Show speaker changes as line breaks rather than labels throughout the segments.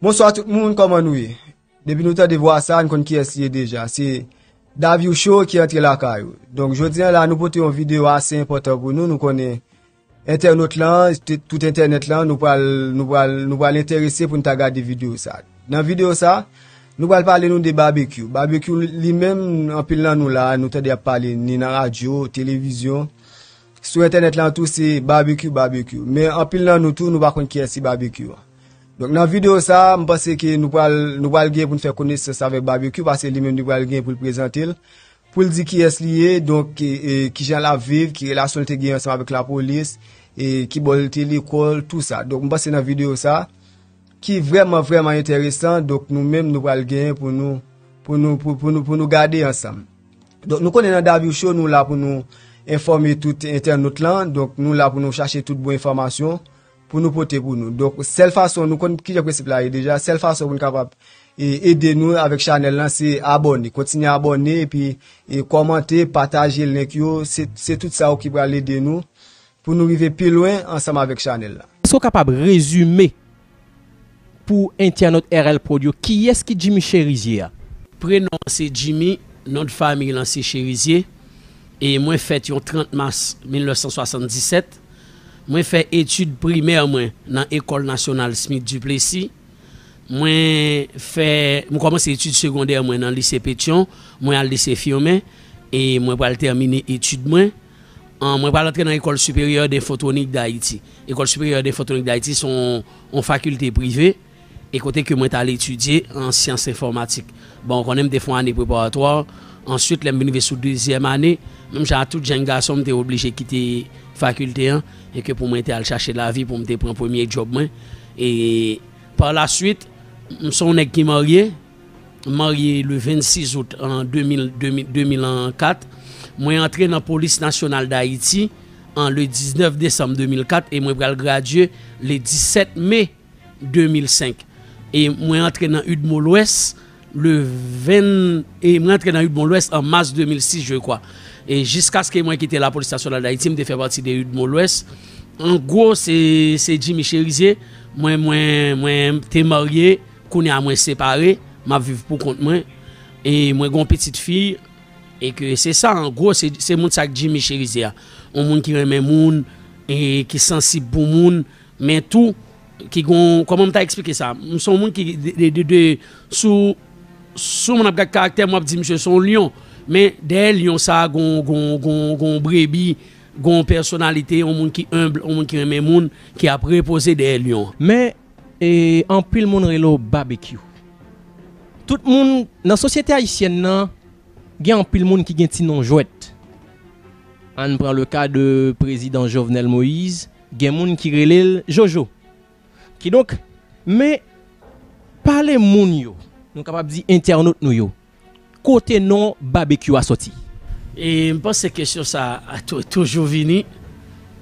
Bonswa tout moun, kòman nou ye? Depi nou tande vwa sa, nou konn ki es li ye deja. Se Davio Show ki antre lakay ou. Donk, jodi an la, nou pote yon video ase enpotan pou nou. Nou konnen... Entènot lan, tout entènèt lan, nou pral, nou pral, nou pral enterese pou nou ta gade videyo sa. Nan videyo sa, nou pral pale nou de babekyou. Babekyou li menm, anpil nan nou la, nou tande ap pale ni nan radyo, televizyon. Sou entènèt lan tou se babekyou, babekyou. Men anpil nan nou tou, nou pa konn ki yès se babekyou an. Donk nan videyo sa, m panse ke nou pral, nou pral gen pou nou fè konesans avèk babekyou, pase li menm li pral gen pou l prezante l. Pou l di kiyès li ye, donk kijan l ap viv, ki relasyon l te gen ansanm avèk lapolis, e ki bò l te lekòl, tou sa. Donk m panse nan videyo sa, ki vrèman vrèman enteresan, donk nou menm nou pral genyen pou nou, pou nou, pou nou gade ansanm. Donk nou konnen nan Davyou Show nou la pou nou enfòme tout entènot lan, donk nou la pou nou chache tout bon enfòmasyon, pou nou pote pou nou donk sèl fason nou konn kijan prensip la ye deja sèl fason pou nou kapab ede nou avèk chanèl lan se abòne kontinye abòne epi kòmante pataje link yo se tout sa yo ki pral ede nou pou nou rive pi lwen ansanm avèk chanèl la. Èske w kapab rezime?
Pou entènot RL prod yo kiyès ki Jimmy Cherizier a? Prenon an
se Jimmy, non de famiy lan se Cherizier e mwen fèt yon 30 mas 1977. Mwen fè etid primè mwen nan Ecole Nationale Smith Duplessis. Mwen fè, mwen kòmanse etid segondè mwen nan Lycée Pétion, mwen al Lycée Firmin e mwen pral tèmine etid mwen. Mwen pral antre nan Ecole Supérieure d'Infotronique d'Haïti. Ecole Supérieure d'Infotronique d'Haïti se yon fakilte prive e kote ke mwen t al etidye an syans enfòmatik. Bon, ou konnen m te fè yon ane preparatwa, answit lè m vin rive sou dezyèm ane, menm jan ak tout jenn gason m te oblije kite fakilte an e ke pou mwen te al chache lavi pou m te pran premye djòb mwen e par la swit, m se yon nèg ki marye. M marye le 26 out an 2004. Mwen antre nan Polis Nasyonal Dayiti an le 19 desanm 2004 e mwen pral gradye le 17 me 2005. E mwen antre nan udmo Lwès le 20, e mwen antre nan udmo Lwès an mas 2006 je kwa. E jiskaske mwen kite Lapolis Nasyonal Dayiti m te fè pati de udmo Lwès. An gwo se Jimmy Cherizier mwen te marye. Kounye a mwen separe, m ap viv pou kont mwen e mwen gen yon pitit fi e ke se sa an gwo se moun sa Jimmy Cherizier a. Yon moun ki renmen moun e ki sansib pou moun men tou ki gen yon, kòman m ta eksplike sa? M se yon moun ki de sou moun ap gad karaktè m w ap di misye se yon lyon men dèyè lyon sa gen yon brebi, gen yon pèsonalite, yon moun ki enb, yon moun ki renmen moun ki ap repoze dèyè lyon an. Men E
anpil moun rele w Babekyou. Tout moun, nan sosyete ayisyèn nan, gen anpil moun ki gen ti non jwèt. An n pran le ka de prezidan Jovenel Moïse, gen moun ki rele l Jojo. Kidonk, men, pale moun yo, nou kapab di entènot nou yo, Kote non Babekyou a soti? E m
panse kesyon sa a toujou vini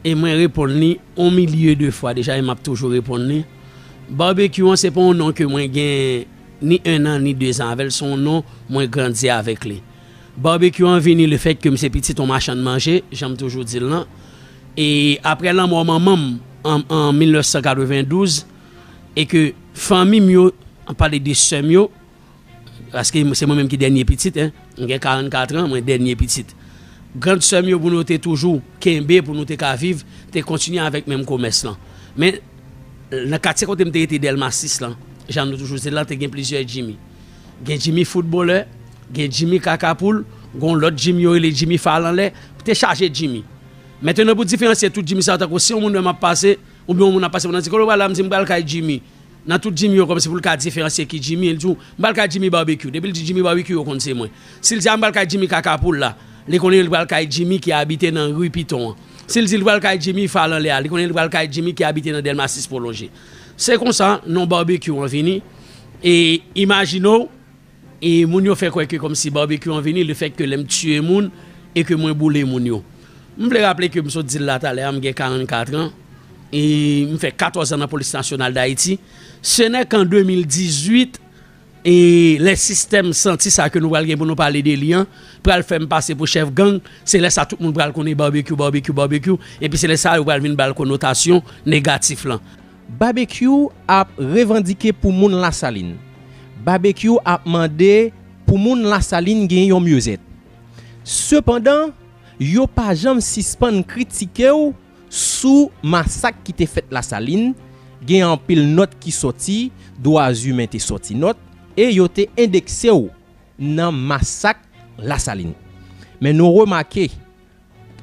e mwen reponn li on milye de fwa deja e m ap toujou reponn li. Babekyou an se pa on non ke mwen gen ni ennan ni dezan avè l, se on non mwen grandi avèk li. Babekyou an vini le fèt ke m se pitit on machann manje, jan m toujou di l lan. E aprè lanmò manman m an 1992 e ke fanmi m yo, m ap pale de sè m yo, Paske se mwen menm ki dènye pitit, m gen 44 an, mwen dènye pitit. Grand sè m yo pou nou te toujou kenbe pou nou te ka viv, te kontinye avèk menm komès lan. Men, nan katye kote m te rete Dèlma 6 lan, jan nou toujou di l lan, te gen plizyè Jimmy. Gen Jimmy foutbolè, gen Jimmy kaka poul, gon lòt Jimmy yo rele Jimmy fal anlè, te chaje Jimmy. Mentenan pou diferansye tout Jimmy sa yo tankou si yon moun wè m ap pase, oubyen yon moun ap pase pou nan di kote w pral la, m di m pral kay Jimmy. Nan tout Jimmy yo kòmsi pou l ka diferansye ki Jimmy li di w m pral kay Jimmy Barbecue depi l di Jimmy Barbecue yo konn se mwen si l di a m pral kay Jimmy Kaka Poul la li konnen li pral kay Jimmy ki abite nan ri Piton an si l di li pral kay Jimmy Fal Anlè a li konnen li pral kay Jimmy ki abite nan Dèlma 6 Pwolonje se konsa non Barbecue an vini e imajine w E moun yo fè kwè ke kòmsi barbecue an vini le fèt ke lè m tiye moun e ke mwen boule moun yo. M vle raple ke m sot di l la talè a m gen 44 an e m fè 14 an nan Polis Nasyonal Dayiti. Se nè kan 2018 e lè sistèm santi sa ke nou pral gen pou nou pale de li an pral fè m pase pou chèf gang, se lè sa tout moun pral konnen barbecue, barbecue, barbecue epi se lè sa yo pral vin ba l konotasyon negatif lan.
Babekyou ap revandike pou moun lasalin. Babekyou ap mande pou moun lasalin gen yon myezèt. Sepandan, yo pa janm sispann kritike w sou masak ki te fèt lasalin, gen anpil nòt ki sòti, dwa zimen te sòti nòt, e yo te endekse w nan masak lasalin. Men nou remake,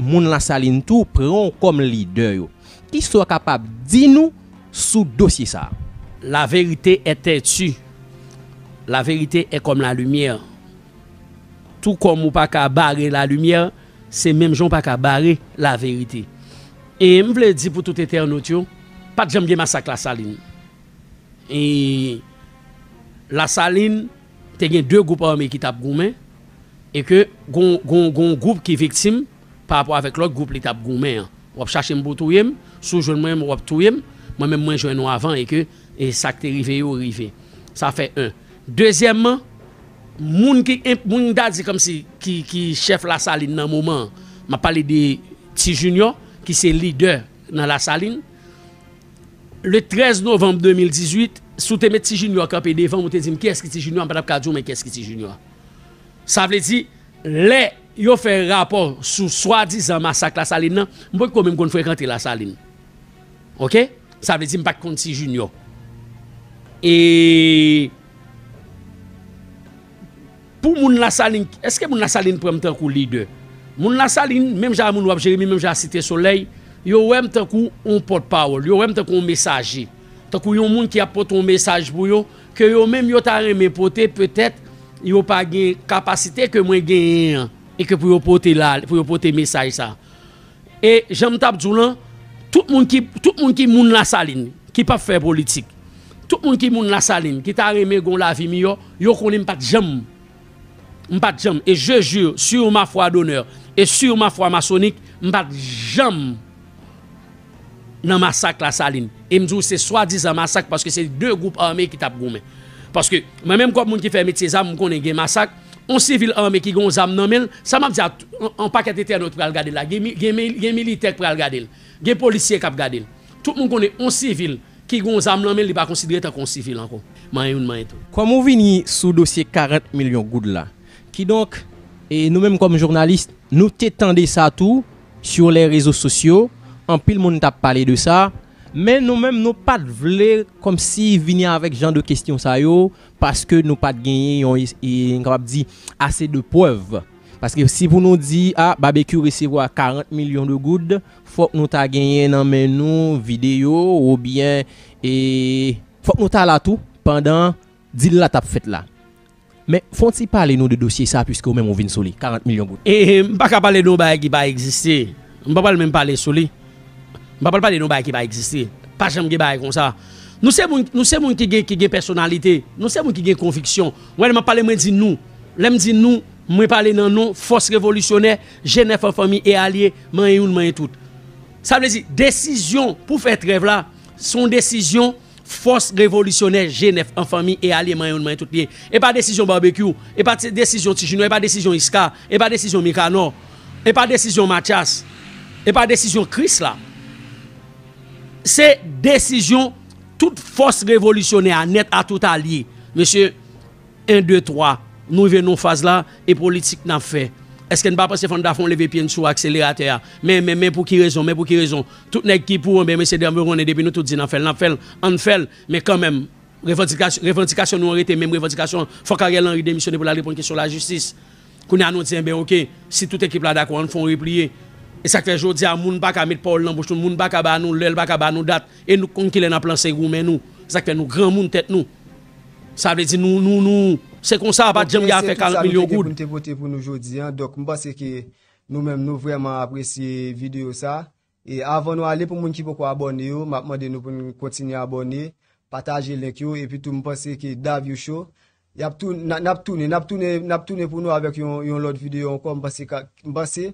moun Lasalin tou pran w kòm lidè yo. Ki sa w kapab di nou sou dosye sa a? La vérité
est têtue, la vérité est comme la lumière. Tou kòm ou pa ka bare la lumière, se menm jan ou pa ka bare la vérité. E m vle di pou tout entènot yo, pa t janm gen masak Lasalin. E Lasalin Te gen 2 gwoup ame ki tap goumen e ke gon gon gon gwoup ki viktim pa rapò avèk lòt gwoup li tap goumen an. Wap chache m pou w touye m, si w jwenn mwen menm wap touye m, mwen menm mwen jwenn ou avan e ke e sa k te rive yo rive. Sa fè 1. Dezyèmman, moun ki enp moun m ta di kòmsi ki ki chèf Lasalin nan moman an, map pale de Ti Jinyò ki se lidè nan Lasalin, Le 13 novanm 2018, si w te met Ti Junior kanpe devan m, ou te di m kiyès ki Ti Junior, m pa t ap ka di w men kiyès ki Ti Junior. Sa vle di, lè yo fè rapò sou swadizan masak Lasalin nan, m potko menm konn frekante Lasalin. Oke? Sa vle di m pa t konn Ti Junior. E. Pou moun lasalin eske moun lasalin pranm tankou lidè moun lasalin menm jan a moun wap jeremi menm jan a site solèy yo wèm tankou yon pòt pawòl yo wèm tankou yon mesaje tankou yon moun ki ap pote yon mesaj pou yo ke yo menm yo ta renmen pote petèt yo pa gen kapasite ke mwen genyen an e ke pou yo pote la pou yo pote mesaj sa E jan m t ap di w lan, tout moun ki, tout moun ki moun Lasalin, ki p ap fè politik, tout moun ki moun Lasalin, ki ta renmen gen yon lavi miyò, yo konnen m pa t janm, m pa t janm, e je jure sur ma foi d'honneur et sur ma foi maçonnique, m pa t janm nan masak Lasalin. E m di w se swadizan masak paske se 2 gwoup ame ki t ap goumen. Paske mwen menm kòm moun ki fè metye zam, m konnen gen masak, On sivil ame ki gen yon zam nan menl, sa map di a yon pakèt entènot pral gadel la, gen militè ki pral gadel, gen polisye kap gadel. Tout moun konnen yon sivil ki gen yon zam nan menl li pa konsidere tankou yon sivil ankò. Manyen youn manyen tout. Kòm
ou vini sou dosye 40 milyon goud la, kidonk e nou menm kòm jounalis nou te tande sa tou sur les rezo sosyo, anpil moun tap pale de sa, men nou menm nou pat vle kòmsi vini avèk jan de kestyon sa yo Paske nou pat genyen yon nou kapab di ase de prèv. Paske si pou nou di a Babekyou resevwa 40 milyon de goud, fòk nou ta genyen nan men nou videyo oubyen e fòk nou ta la tou pandan dil la tap fèt la. Men fon ti pale nou de dosye sa pwiske ou menm ou vin sou li, 40 milyon goud. E m paka pale de yon
bagay ki pa egziste. M pa pral menm pale sou li. M pa pral pale de yon bagay ki pa egziste. Pa janm gen bagay konsa. Nou se moun, nou se moun ki gen, ki gen pèsonalite. Nou se moun ki gen konviksyon. Wè lè m ap pale mwen di nou. Lè m di nou, mwen pale nan non fòs revolisyonè, Jenèf an fanmi e alye, manyen youn manyen tout. Sa vle di, desizyon pou fè trèv la, se yon desizyon. Fòs revolisyonè G9 an fanmi e alye manyen yon manyen tout pye. E pa desizyon Barbecue, e pa desizyon Ti Junior, e pa desizyon Isca, e pa desizyon Micanor, e pa desizyon Mathias, e pa desizyon Chris la. Se desizyon tout fòs revolisyonè a nèt a tout alye. Mesye. 1 2 3 Nou rive nan yon faz la e politik nap fè Eske n pa panse fò n ta fè yon leve pye n sou akseleratè a Men men men pou ki rezon men pou ki rezon Tout nèg ki pou anbyen mesye dam yo konnen depi nou tout di n ap fè l n ap fè l An n fè l men kanmenm Revandikasyon revandikasyon nou an rete menm revandikasyon Fòk Ariel Henry demisyone pou l al reponn kesyon lajistis Kounye a nou di anbyen ok si tout ekip la dakò an n fè yon repliye E sa k fè jodi a moun pa ka met pawòl nan bouch nou moun pa ka ba nou lè l pa ka ba nou dat e nou k konn kilè n ap lanse goumen nou E sa k fè nou granmoun tèt nou Sa vle di nou, nou, nou, se konsa pat janm gen afè 40 milyon goud. Ok se tout sa nou te gen pou nou te pote pou nou jodi an,
donk m panse ke nou menm nou vrèman apresye videyo sa, e avan nou ale pou moun ki poko abòne yo, map mande nou pou nou kontinye abòne, pataje link yo, epi tou m panse ke Davio Show, yap tou, nap tounen, nap tounen, nap tounen pou nou avèk yon lòt videyo ankò, m panse ka, m panse